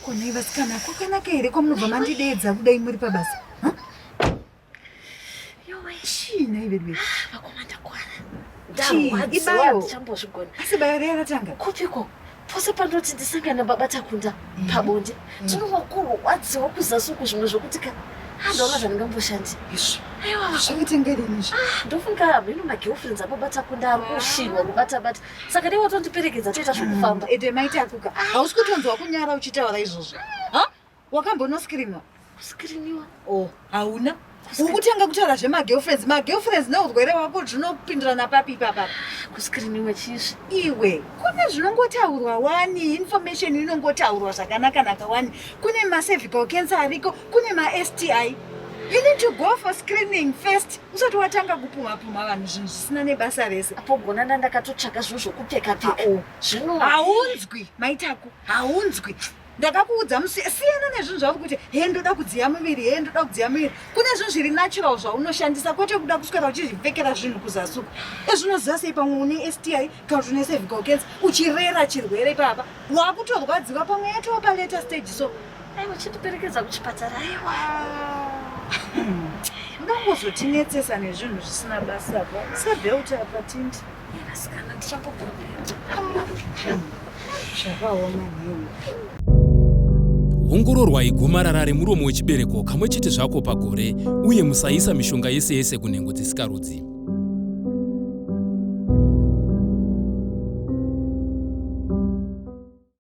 konai vasikana kwakanaka here kwamunobva mandideedza kudai muri pabasa chii nhai veduwe vakomanda kwana asi bayo reya ratanga kupiko pose pandoti ndisangana nababa takunda mm. pabonde mm. tinova kurwadziwa kuzasi uku zvimwe zvokuti ka handaona ah, zvandingamboshandi aiwazvakitengerenizvo ah, ndofunga hameno magirlfriends ababa takunda ari kushinwa kubatabata saka dei watondiperekedza toita zvokufamba mm. ede maita kuka ah. hausi kutonzwa kunyara uchitaura izvozvo wakambonoskiriniwa kuskiriniwa oh hauna ukutanga kutaura zvemagirlfriends magirlfriends neurwere wako zvinopindirana papi ipapa kuskiriniwa chizvi iwe kune zvinongotaurwa wani information inongotaurwa zvakanakanaka wani kune macervical cancer ariko kune masti you need to go for screening first usati watanga kupumhapumha vanhu zvinhu zvisina nebasa rese apogona ndandakatotsvaga zvinhu zvokupfekapfeka ah, oh. zvino haunzwi maitako haunzwi ndakakuudza musi siyana nezvinhu zvauri kuti he ndoda kudziya muviri he ndoda kudziya muviri kune zvinhu zviri natural zvaunoshandisa kwete kuda kuswera uchizvipfekera zvinhu kuzasuka ezvinoziva sei pamwe une sti kana kuti une cervical cancer uchirera chirwere ipapa wakutorwadziwa pamwe yatova palater stage so aiwa chindiperekedza kuchipatara aiwa ndokuzotinetsesa nezvinhu zvisina basa pa sebelt apa tindi Asikana ndichakubvumira. ongororwai gomarara remuromo wechibereko kamwe chete zvako pagore uye musaisa mishonga yese yese kunhengo dzisikarudzi